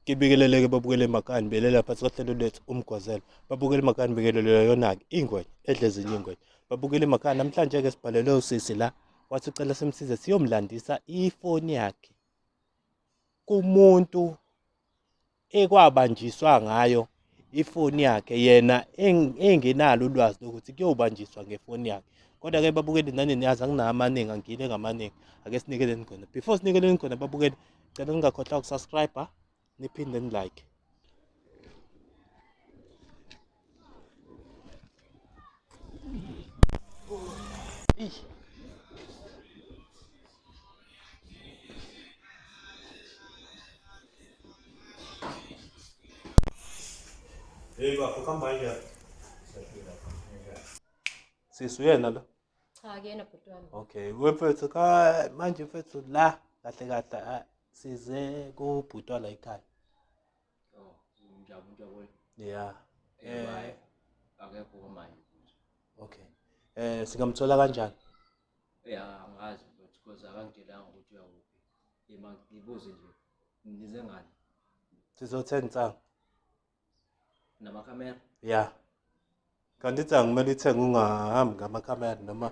ngibikeleleke babukele makani belela phansi kohlelo lwethu umgwazelo babukele makani bikelelele yona-ke ingwenya edle ezinye ingwenya babukele makani namhlanje-ke sibhalelwe usisi la wathi ucela simsize siyomlandisa ifoni yakhe kumuntu ekwabanjiswa ngayo ifoni yakhe yena engenalo ulwazi lokuthi kuyobanjiswa ngefoni yakhe kodwa-ke babukeli nani niyazi anginawo amaningi angile ngamaningi ake sinikeleni khona before sinikeleni khona babukeli cela ningakhohlwa ukusubscribe niphinde nilike Hey bafo kamba nje. Sisi uyena lo? Cha akuyena bhuti wami. Okay, wemfethu ka manje mfethu la kahle kahle ah, size kubhutwa la ekhaya. Oh, unjaba umuntu yabona. Yeah. Eh, Eh, akekho kwamanje. okay. Eh singamthola kanjani? Yeah, angazi but because akangitshelanga ukuthi uyakuphi. Yema ngibuze nje. Ngize ngani? Sizothenga insangu. Nama camera. Yeah. Kanti insangu kumele ithenge ungahambi ngama camera noma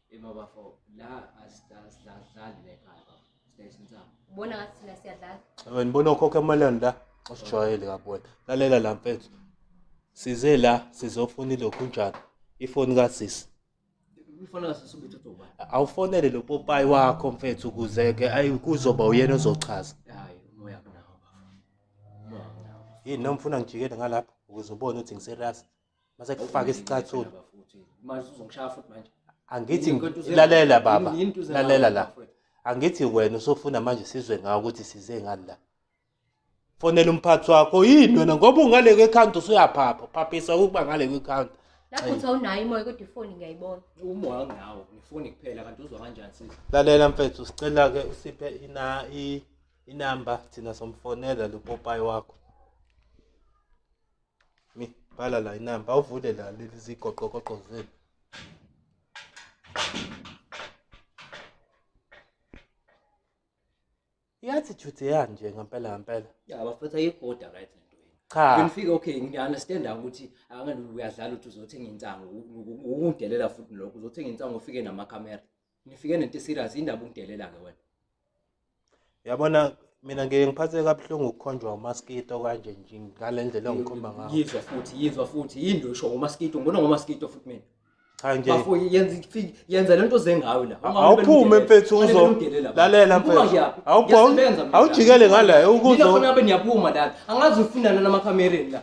Hey babafo, la asidlali lekhaya bafo. Station sami. Ubona ngathi thina siyadlala. Wena bona ukhokha emalini la? Usijwayele kabona. Lalela la mfethu. Size la sizofuna ilokhu njalo. Ifoni kasisi. Ifoni kasisi ubuthatha uba. Awufonele lo popayi wakho mfethu kuze ke ayi kuzoba uyena ozochaza. Hayi, umoya kunawo bafo. Umoya kunawo. Yini nomfuna ngijikele ngalapha ukuze ubone ukuthi ngiserasi. mase kufaka isicathulo manje uzongishaya futhi manje angithi lalela baba lalela la angithi wena usofuna manje sizwe ngawo ukuthi size ngani la fonela umphathi wakho yini wena ngoba ungale kwekhanda usuyaphapha phaphisa ukuba ngale kwekhanda lapho uthi awunayo imoya kodwa ifoni ngiyayibona umoya ngawo ngifoni kuphela kanti uzwa kanjani sisi lalela mfethu sicela ke usiphe ina i inamba thina somfonela lopopayi wakho mi bhala la inamba awuvule la leli zigoqogoqo zenu i-attitude yanje ngempela ngempela ya bafetha igoda right cha ngifike okay ngiyaunderstand ukuthi akangani uyadlala ukuthi uzothenga insangu ukudelela futhi lokho uzothenga insangu ufike namakhamera Ngifike nento serious indaba ungidelela ke wena. Yabona mina ngeke ngiphathe kabuhlungu ukukhonjwa umaskito kanje nje ngalendlela ongikhomba ngayo. Yizwa futhi yizwa futhi yindwe usho umaskito ngibona ngomaskito futhi mina. Cha nje. Bafo yenza yenza lento zengawe la. Awuphume mfethu uzo. Lalela mfethu. Awuphume. Awujikele ngala ukuzo. Ngifuna abe niyaphuma la. Angazi ufunana namakhamereni la.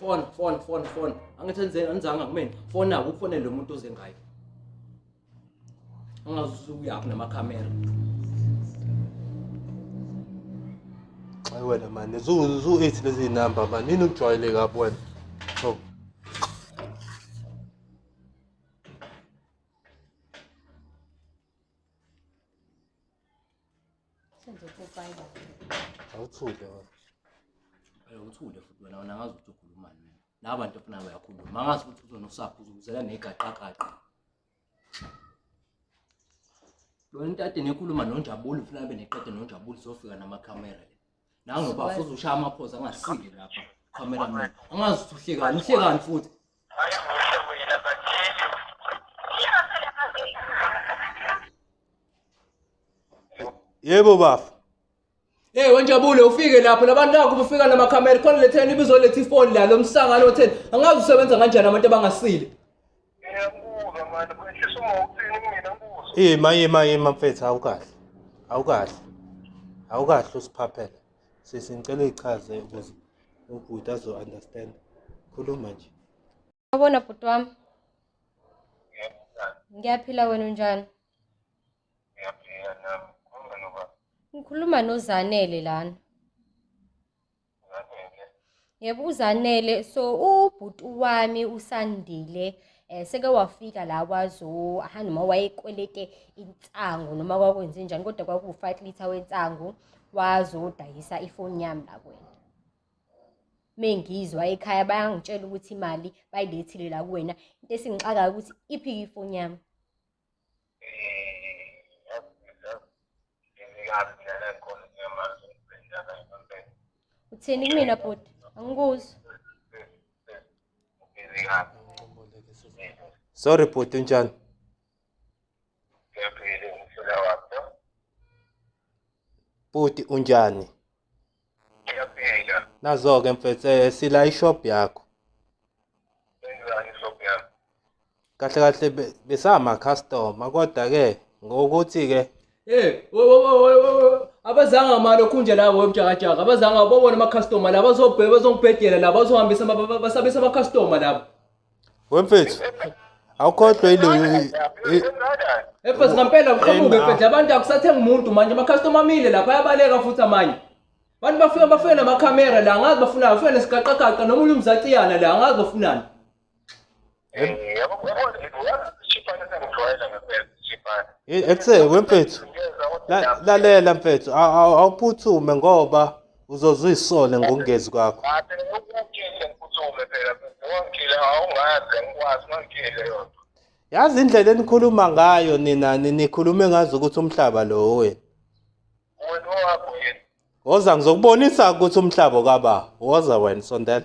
fona fona fona fona angithi enzeni anizanga kumina fona ukufonele lo muntu oze ngayo angazi uyaphi namakhamera Ay wena mani zu zu eithi lezi number mani nini ukujwayeleka lapho wena so Senze upopayi la. Awuthule wena. Eh uthule futhi wena wena ngazi ukuthi ukhulumani mina. Laba bantu ofuna bayakhuluma. Mangazi ukuthi uzona usapho uzokuzela negaqaqaqa. Lo ntate nekhuluma nonjabulo ufuna abe neqede nonjabulo sofika namakhamera. Nangu baba futhi ushaya amaphosa angasile lapha. Camera man. Angazi ukuthi uhlekani, uhlekani futhi. Yebo bafo. Hey wenjabule ufike lapho labantu nakho bufika nama camera khona letheni ibizoletha ifoni la lomsangano otheni angazi usebenza kanjani abantu abangasile. ima ima ima mfethu awukahle awukahle awukahle usiphaphela sisi ngicela uyichaze ukuze ubhuti azo-understand khuluma nje wabona bhuti wami ngiyaphila wena unjani ngiyaphila nami ngikhuluma nozanele lana yebo uzanele so ubhuti wami usandile eh seke wafika la kwazo aha noma wayekwelete insangu noma kwakwenze njani kodwa kwaku-5 litre wensangu wazodayisa ifoni yami la kwena mengizwa ekhaya bayangitshela ukuthi imali bayilethile la kuwena into esingixakayo ukuthi iphi ifoni yami uthini kumina bhuti angikuzwa sorry bhuti unjani bhuti unjani Ngiyaphila. Nazo-ke mfethu eh, sila ishop yakho. Senzani shop yakho? Kahle kahle be- besama-customer kodwa-ke ngokuthi-ke Eh, wo- wo- wo- wo- wo- wo. abazanga mali okhunje la wemjakajaka abazanga babona amakhastoma la bazobhe- bazongibhedela la bazohambisa ama- ba- ba- basabisa amakhastoma labo Wemfethu. Awukhohlwa ileyo Efes ngempela uqhamuke efes abantu akusathenga umuntu manje ama customer amile lapha ayabaleka futhi amanye. Abantu bafika bafike nama camera la ngazi bafuna bafika nesigaqagaqa noma umuntu umzaciyana la ngazi bafunani. Yabo yabo shipana sengijwayela ngempela shipana. Ekuse wemfethu. Lalela mfethu awuphuthume ngoba uzoze uyisole ngokungezi kwakho Ngathi ukutshile ngiphuthule phela ngongile awungaze ngikwazi ngongile yona. yazi indlela enikhuluma ngayo nina ni- nikhulume ngazi ukuthi umhlaba lo wena Wena owakho yini? woza ngizokubonisa ukuthi umhlaba kababa woza wena sondela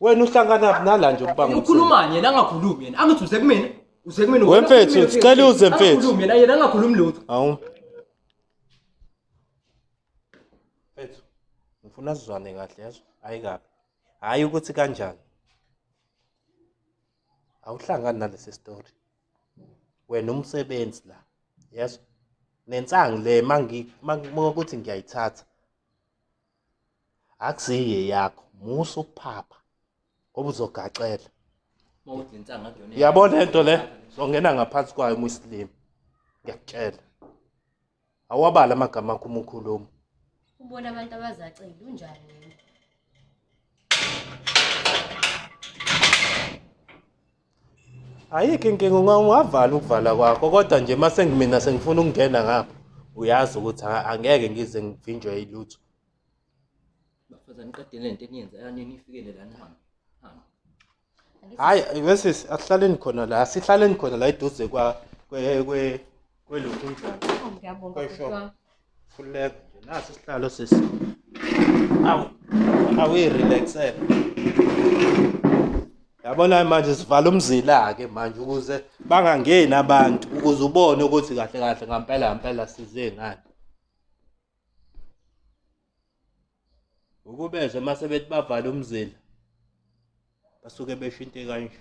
wena uhlanganaphi nala nje ukuba ngumsebenzi ukhulumani yena angakhulumi yena angithi uze kumina uze kumina We mfethu, sicela uze mfethu. Angakhulumi yena yena angakhulumi lutho awu mfethu ngifuna sizwane kahle yazo hayi kabi hhayi ukuthi kanjani awuhlangani nalesi story wena umsebenzi la yazo nensangu le mangi- mangi- makuthi ngiyayithatha akusiye yakho musa ukuphapha ngoba uzogaxela yabona lento le zongena ngaphansi kwayo muslim ngiyakutshela awabala amagama akho uma ukhuluma ubona abantu abazacela unjani ayikho inkinga ungavala ukuvala kwakho kodwa nje uma sengimina sengifuna ukungena ngapha uyazi ukuthi angeke ngize ngivinjwe yilutho bafazane qede le nto eniyenza yanini ifikele la nihambe hhayi wesisi asihlaleni khona la sihlaleni khona la eduze kwa Kwelokhu unjani? Oh, ngiyabonga Kwesho. bhuti wami. Khululeka nje. Nasi isihlalo sisi. Awu. Awuyirelaxele. Yabona manje sivala umzila ke manje ukuze bangangeni abantu ukuze ubone ukuthi kahle kahle ngampela ngampela size ngani. ukubezwe mase bethi bavala umzila basuke beshinte kanje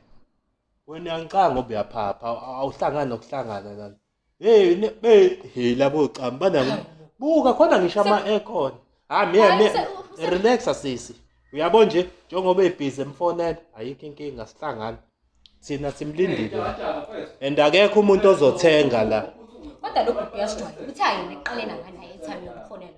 wena ngicanga ubuyaphapha awuhlangani nokuhlangana nani hey be hey labo cam bana buka khona ngisho ama aircon ha me me relax sisi uyabo nje njengoba ebhizi emfonela ayikho inkinga sihlangana thina simlindile and akekho umuntu ozothenga la kodwa lokhu uyasijwayela ukuthi ayona eqalena ngani ayethami yokufonela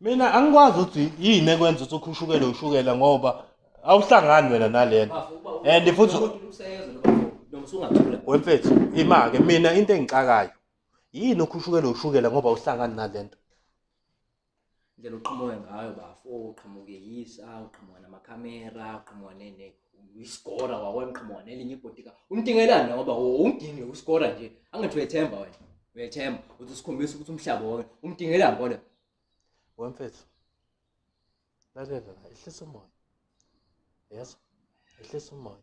mina angikwazi ukuthi yini ekwenza ukuthi ukhushukele ushukela ngoba awuhlangani wena nalena and futhi wemfethu imake mina into engixakayo yini ukhushukele ushukela ngoba awuhlangani nalento indlela oqhamuke ngayo bafo uqhamuke yisa uqhamuka namakhamera uqhamuka nene iskora wakwena uqhamuka nelinye ibhodika umdingelani ngoba umdinge uskora nje angathi uyethemba wena uyethemba uthi usikhombisa ukuthi umhlaba wonke umdingelani kona wemfethu lalela la ehlisa umoya yazi ehlisa umoya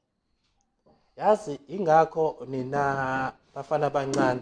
yazi ingakho nina bafana abancane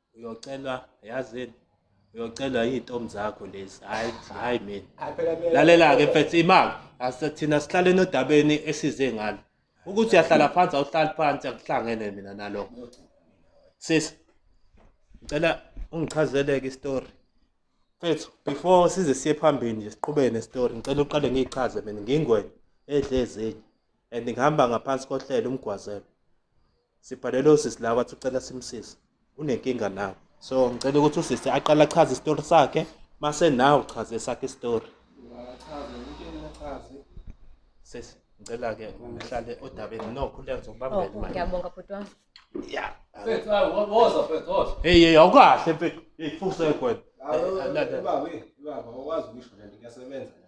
uyocelwa yazini uyocelwa iy'ntombi zakho lezi hhayi hhayi mina lalela-ke mfethu imali asithina sihlale nodabeni esize ngalo ukuthi uyahlala phansi awuhlali phansi akuhlangene mina nalokho sisi ngicela ungichazeleke isitori mfethu before size siye phambili nje siqhubeke nesitori ngicela uqale ngiyichaze mina ngingwena edle ezinye and ngihamba ngaphansi kohlelo umgwazelo sibhalele usisi la wathi ucela simsize unenkinga nawe so ngicela ukuthi usisi aqale achaze isitori sakhe mase nawe uchaze esakhe isitori sesi ngicela ke uhlale odabeni no khuleka ngizokubambela oh, imali ngiyabonga bhuti wami ya mfethu hayi woza mfethu woza hey hey awukahle mfethu hey fuse kwena baba baba wakwazi ukusho lento kuyasebenza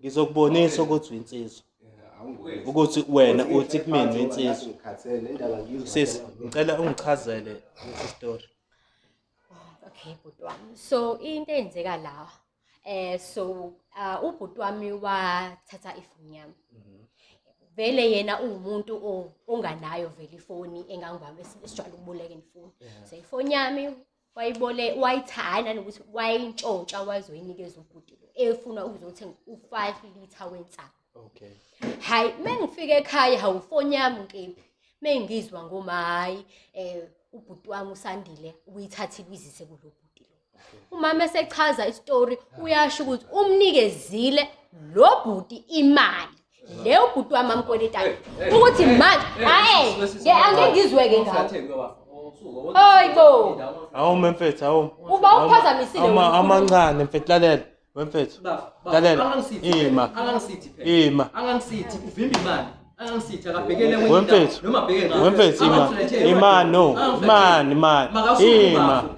ngizokubonisa ukuthi uyinsizwa ukuthi wena uthi kumina uyinsizwa sis ngicela ungichazele lesi story okay bhuti wami so into eyenzeka la eh so uh, ubhuti wami wathatha ifoni yami vele yena uwumuntu onganayo vele ifoni engangibamba esijwayele ukubuleka ifoni so ifoni yami wayibole wayitha hhayi nanokuthi wayintshontsha wazoyinikeza ubhuti lo efuna ukuzothenga u-five litre wensangu okay hhayi uma ngifika ekhaya hawufoni yami nkephi uma ngizwa ngoma hhayi um ubhuti wami usandile uyithathile uyizise kulo bhuti lo umama esechaza isitori uyasho ukuthi umnikezile lo bhuti imali leyo bhuti wami amkweletana ukuthi manje hayi ke angeke ngizweke ngawo hayi bo awu mfethu awu uba uphazamisile amancane mfethu lalela wemfethu lalela ima ima angangisithi uvimba imali wemfethu wemfethu ima ima no imani imani ima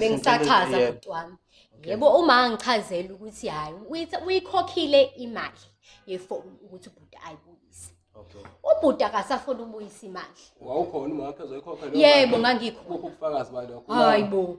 bengisachaza bhuti wami yebo uma angichazela ukuthi hhayi uyikhokhile imali yefoni ukuthi ubhuti ayibuyise ubhuti akasafuni ubuyisa imali yebo ngangikhona hayi bo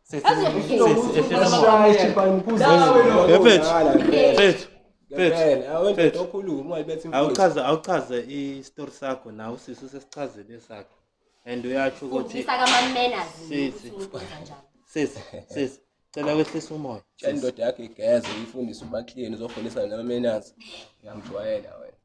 awuchaze awuchaze isitori sakho nawe usisi usesichazele sakho and uyatsho ukuthi sisi sisi cela wehlisa umoya indoda yakho igeze uyifundise ubaklini uzofonisana nama-manners uyamjwayela wena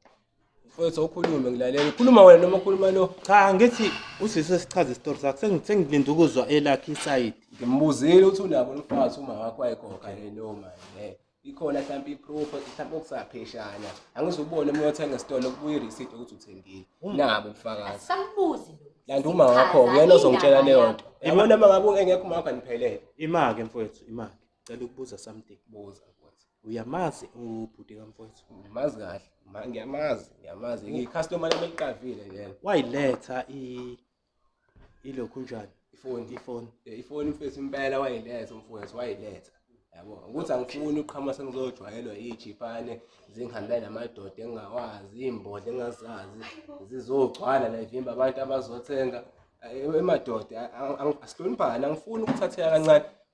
Mfowethu ukhulume ngilalele. Ukhuluma wena noma ukhuluma lo? Cha ngithi usisi esichaza isitori sakhe sengi- sengilinda ukuzwa elakhe isayidi. Ngimbuzile ukuthi unabo lomfazi uma wakho wayigoga yini leyo mali. eh. Ikhona mhlawumbe i-proof mhlawumbe okusapheshana. Angize ubone uma uyothenga esitolo kubuye i-receipt yokuthi uthengile. Nabo ubufakazi. Sambuzi lo. Landa uma wakho uyena ozongitshela leyo nto. Yabona uma ngabe engekho uma wakho aniphelele. Imake mfowethu imake. Cela ukubuza something. Buza mfowethu. uyamazi ubhuti kamfowethu ngimazi kahle ma ngiyamazi ngiyamazi ngiyicustomer lami eliqavile lelo wayiletha i ilokhu njani ifoni ifoni eh, ifoni mfethu impela wayiletha umfowethu wayiletha yabo ukuthi angifuni uqhama sengizojwayelwa iy'jipane zingihambela namadoda engingawazi iy'mbodla engingazazi zizogcwala la ivimba abantu abazothenga eh, emadoda asihloniphani angifuni ukuthatheka kancane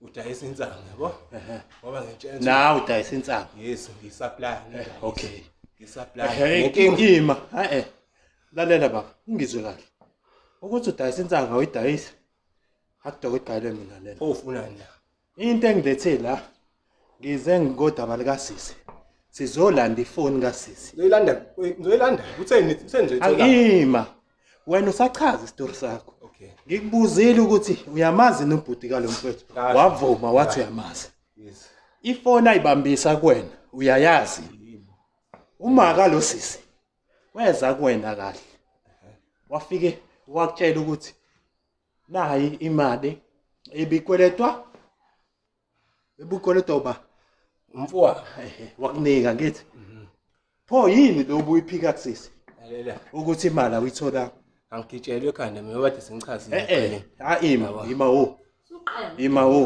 udayisa insangu yabo ngoba ngitshela nawe udayisa insangu yes ngisaplaya okay ngisaplaya nginkima hayi eh. lalela baba ungizwe kahle ukuthi udayisa insangu awuyidayisa akudokwe igqayile mina lena ofuna nje into engilethe la Ngize ngikodaba lika sisi. Sizolanda ifoni ka sisi. Ngizoyilanda, ngizoyilanda. Utheni, utheni nje thola. Angima. Wena usachaza isitori sakho. Okay. Ngikubuzile ukuthi uyamazi nobhuti kalomfethu. Wavuma wathi uyamazi. Yes. Ifoni ayibambisa kuwena, uyayazi. Uma ka lo sisi weza kuwena kahle. Wafike wakutshela ukuthi nayi imali ebikweletwa ebukoleta uba umfowabo ehe wakunika ngithi pho yini lo ubuyiphika kusisi lalela ukuthi imali awuyithola angigitshelwe ekhanda mina kade sengichazile eh eh ha ima ima wo ima wo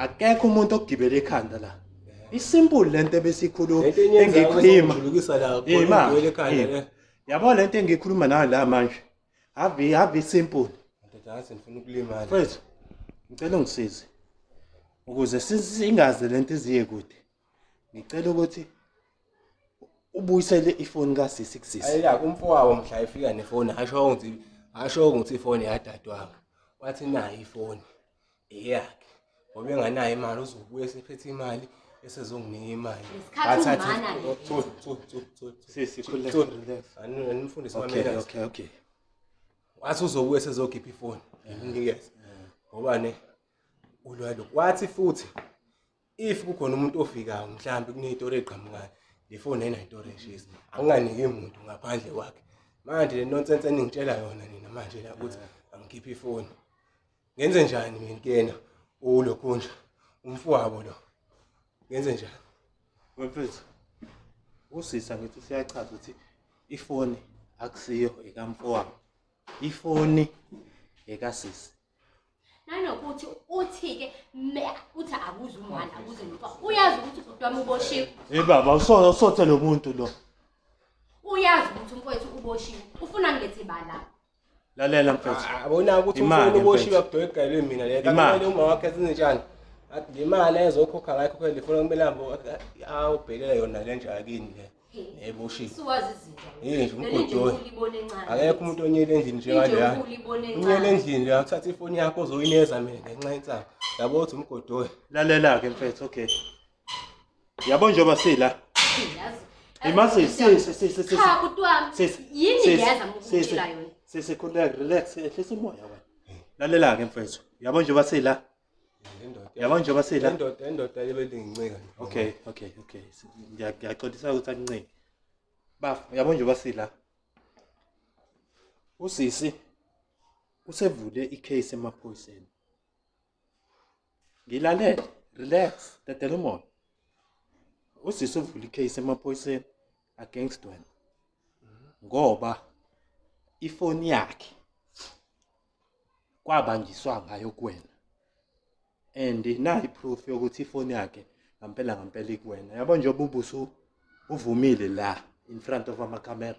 akekho umuntu ogibela ekhanda la isimple lento ebesikhuluma engikhuluma la ima yabo lento engikhuluma nayo la manje Havi havi simple. Ndoda ngathi ngifuna ukulimala. Mfethu ngicela ungisize. Ukuze singaze lento iziye kude. Ngicela ukuthi ubuyisele ifoni ka sisi kusisi. Ayika kumfowabo mhla efika nefoni asho ukuthi asho ukuthi ifoni yadadwabo. Wathi nayi ifoni. eyakhe ngoba enganayo imali uzobuya esephethe imali esezonginika imali animfundisi wamelaokay wathi uzobuya esezokhipha ifoni nginikeze ngoba ne ulwalo wathi futhi if kukhona umuntu ofikayo mhlawumbe kuney'tori ey'qhamukayo le foni ayinay'tori eshisa anginganiki muntu ngaphandle kwakhe manje le nonsense eningitshela yona nina manje la ukuthi angikhiphe ifoni ngenze njani mina kuyena ulokhundla umfowabo lo ngenze njani mfethu usisa ngithi useyachaza ukuthi ifoni akusiyo ekamfowabo ifoni ekasisi nanokuthi uthi-ke uthi akuze umwana akuze nomfowabo uyazi ukuthi ubhuti wami uboshiwe hey baba usona usothe lo muntu lo uyazi ukuthi umfowethu uboshiwe ufuna ngilethe bala lalela mfethu abona ukuthi umfowenu uboshiwe kudoyi igayelwe mina le kanti uma wakhe zinjani athi le mali ezokhokha ngayo khokha lifuna kumele ahambe awubhekele yona le nje akini le neboshiwe siwazi izinto yini nje umgodoyi akekho umuntu onyele endlini njengaleya unyele endlini leya uthatha ifoni yakho uzoyineza mina ngenxa yensanga yabo uthi umgodoyi lalela-ke mfethu okay yabo njengoba sila imazi sisi sisi sisi cha bhuti wami Sisi, yini sisi, ngiyeza sisi. ngikutshela yona sisi khuleka relax ehlisa umoya wena lalela ke mfethu yabo njengoba sila Indoda. yabo njengoba sila Indoda, indoda ebelingincika. okay okay okay Si- ngiya- ngiyaxolisa ukuthi akuncingi bafo yabo njengoba sila usisi usevule icase emaphoyiseni ngilalele relax dedela umoya usisi uvula icase emaphoyiseni against wena ngoba ifoni yakhe kwabanjiswa ngayo kuwena and nayi proof yokuthi ifoni yakhe ngampela ngampela ikuwena yabo njengoba ubuso uvumile la in front of ama camera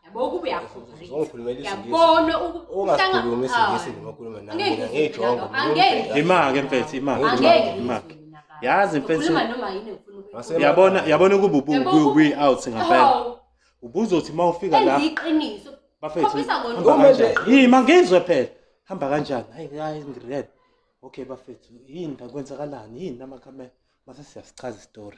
yabo ukuba uyafuyabona ungakhulumi isingisi ngokhuluma nami mina ngiyijongo imake mfethu imake imake yazi mfethu yabona yabona ukuba ubuyi out ngempela ubuzothi uma ufika la iqiniso bafethu yima ngizwe phela hamba kanjani hayi hayi ngired okay bafethu yini kwenzakalani yini namakhamera mase siyasichaza istory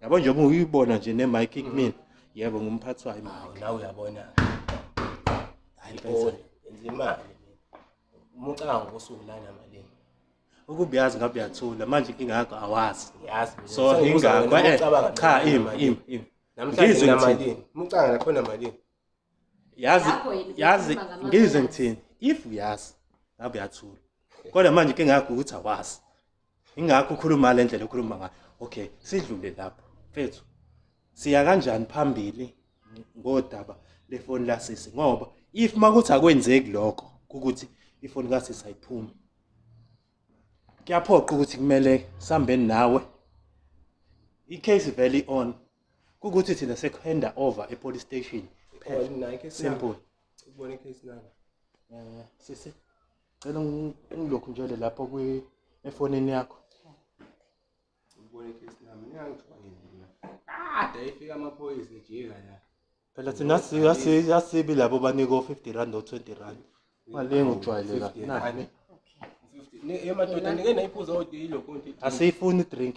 yabo njengoba uyibona nje ne mic kumina yebo ngumphathi wayo hawu nawe uyabona hayi bona enza imali umucanga ngosuku lana malini ukubuyazi ngabe uyathula manje inkinga yakho awazi yazi so ingakho eh, cha ima ima ima namhlanje namalini umucanga nakhona malini yazi Lapho yini yazi ukhuluma ngamazwi ngizwe kazi. ngithini if uyazi ngabe uyathula kodwa manje ke ngakho ukuthi awazi ingakho ukhuluma le ndlela okhuluma ngayo okay sidlule lapho mfethu siya kanjani phambili ngodaba lefoni lasisi ngoba if makuthi akwenzeki lokho ukuthi ifoni kasisi ayiphumi kuyaphoqa ukuthi kumele sihambeni nawe i-case vele i-on kukuthi thina sekuhanda over epolice station phela oh, simple ukubona icase nami eh sisi cela ngilokhu njalo lapho kwi efonini yakho ukubona icase nami ngiyangithiwa ngidlula kade efika amaphoyisa ejika la phela thina siyasibi labo banika o-50 rand o-20 rand mali engujwayeleka nani asiyifuni drink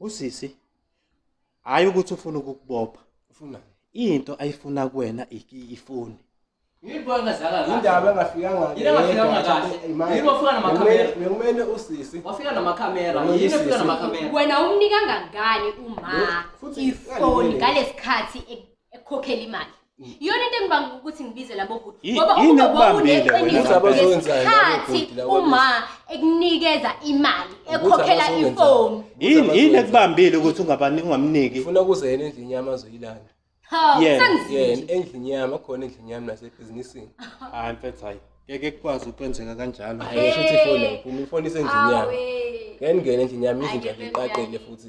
usisi hayi ukuthi ufuna ukukubopha ufuna into ayifuna kuwena ifoni Ngibona zala kahle. Indaba engafikanga kahle. Ingafikanga kahle. Yini wafika namakhamera? Bekumele usisi. Wafika namakhamera. Yini wafika namakhamera? Wena umnika ngangani uma ifoni ngalesikhathi e- ekhokhela imali? Yona into engibanga ukuthi ngibize labo bhuti Yi- ngoba yini ukube ekubambile wena wawuneqiniso Ukuthi abazokwenzani labo ngesikhathi bhuti laba uma ekunikeza imali Ukuthi ekhokhela abazokwenzani. ifoni. yini yini Abazokwenzani. ekubambile ukuthi ungabani ungamniki ngifuna kuze yena endlini yami azoyilanda Hawu Yeah, sengizile. yena endlini yami akhona endlini yami nasebhizinisini hayi mfethu hayi ngeke kukwazi ukwenzeka kanjalo Hey. ayisho ukuthi ifoni yayiphuma ifoni isendlini yami Awe. ngeke ndingene endlini yami izinja Ayike ziqaqele bebuyakhe. futhi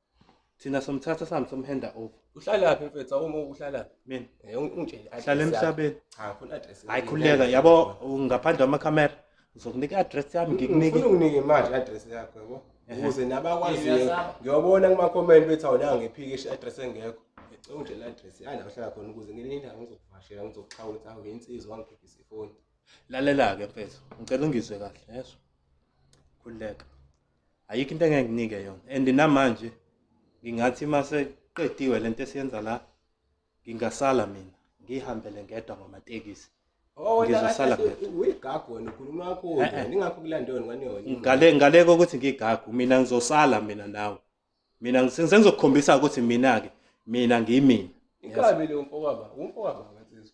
thina somthatha sihambe somhenda over uhlalaphi mfethu awuma uhlalaphi mina eh, ungitshele hlala emhlabeni cha khona address hayi khuleka yabo ngaphandle kwamakhamera ngizokunika i-address yami ngikunike ufuna unginike imali i-address yakho yabo ukuze nabakwaziyo ngiyobona kuma-comment bethi awunanga ngiphikishe i-address engekho ngicela ungitshele i-address yala uhlala khona ukuze ngelinye ilanga ngizokuvashela ngizokuxhawula ukuthi awu yinsizwa wangiphephisa ifoni lalela-ke mfethu ngicela ungizwe kahle yezwa khululeka ayikho into engeke nginike yona and namanje ngingathi uma seqediwe lento esiyenza la ngingasala mina ngihambele ngedwa ngamatekisi oh, ngizosala uyigagu wena ukhuluma yakho eh, eh. ningakho kulanda yona ngani yona ngale ngale kokuthi ngigagu mina ngizosala mina nawe mina sengizokukhombisa ukuthi mina ke mina ngiyimina inkabi le umfowaba umfowaba ngathi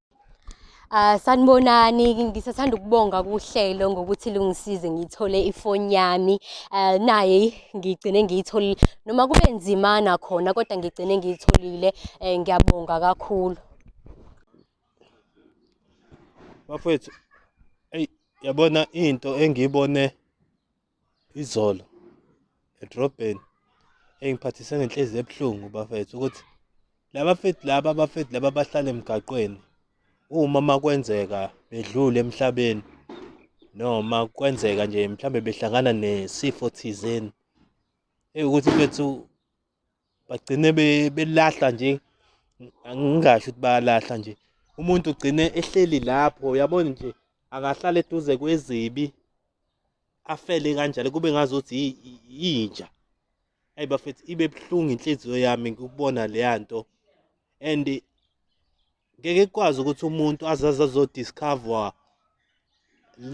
Ah sanibonani ngisathanda ukubonga kuhlelo ngokuthi lungisize ngithole ifoni yami eh naye ngigcine ngiyitholile noma kube nzima nakhona kodwa ngigcine ngiyitholile eh, ngiyabonga kakhulu bafethu eyi yabona into engiyibone Izolo edrobheni engiphathise ngenhlezi ebuhlungu bafethu ukuthi laba fethu laba abafethu laba bahlala emgaqweni uma makwenzeka bedlule emhlabeni noma kwenzeka nje mhlambe behlangana nesifo thizeni ekuthi bethu bagcine belahla nje angingasho ukuthi bayalahla nje umuntu ugcine ehleli lapho yabona nje akahlala eduze kwezibi afele kanjalo kube ngazuthi yinja ayi bafethu ibe buhlungu inhliziyo yami ngikubona leya nto and ngeke kukwazi ukuthi umuntu azaze azodiscover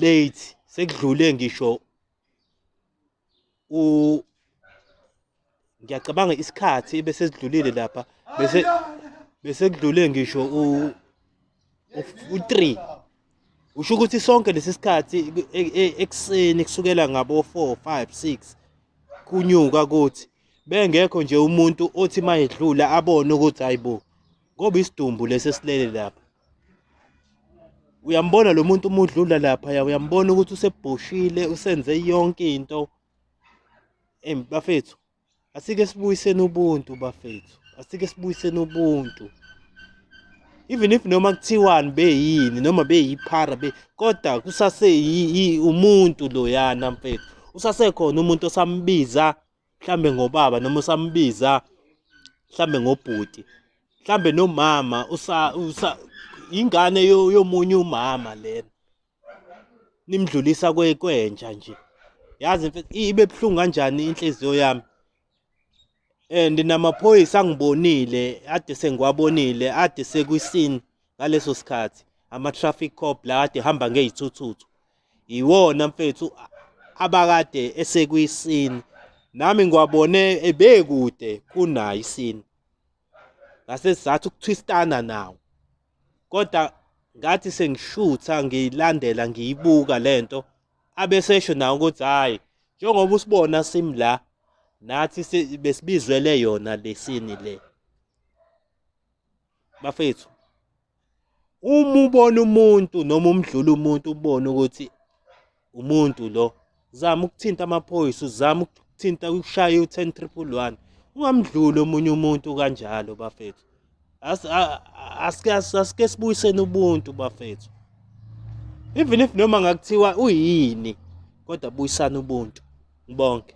late sekudlule ngisho u ngiyacabanga isikhathi bese sidlulile lapha bese bese kudlule ngisho u u3 usho ukuthi sonke lesi sikhathi e, e, ekuseni kusukela ngabo 4 5 6 kunyuka kuthi bengekho nje umuntu othi mayedlula abone ukuthi hayibo ngoba isidumbu lesi esilele lapha uyambona lo muntu uma udlula lapha ya uyambona ukuthi usebhoshile usenze yonke into em bafethu asike sibuyiseni ubuntu bafethu asike sibuyiseni ubuntu even if noma kuthiwani beyini noma beyiphara be kodwa kusase umuntu loyana mfethu usasekhona umuntu osambiza mhlambe ngobaba noma usambiza mhlambe ngobhuti mhlambe nomama usa usa ingane yomunye umama lena nimdlulisa kwentsha nje yazi ibe buhlungu kanjani inhliziyo yami and namaphoyisa angibonile ade sengiwabonile ade sekwisini ngaleso sikhathi ama-traffic cop la kade hamba ngey'thuthuthu yiwona mfethu abakade esekuyisini nami ngiwabone ebekude kunayo isini ngase sizathu ukuthwistana nawo kodwa ngathi sengishutha ngiyilandela ngiyibuka lento abesesho nawo ukuthi hayi njengoba usibona simi la nathi besibizwele yona lesini le bafethu uma ubona umuntu noma umdlula umuntu ubone ukuthi umuntu lo zama ukuthinta amaphoyisa uzama ukuthinta ushaya u-ten triple one ungamdluli omunye umuntu kanjalo bafethu asike sibuyiseni ubuntu bafethu even if noma ngakuthiwa uyini kodwa buyisana ubuntu ngibonke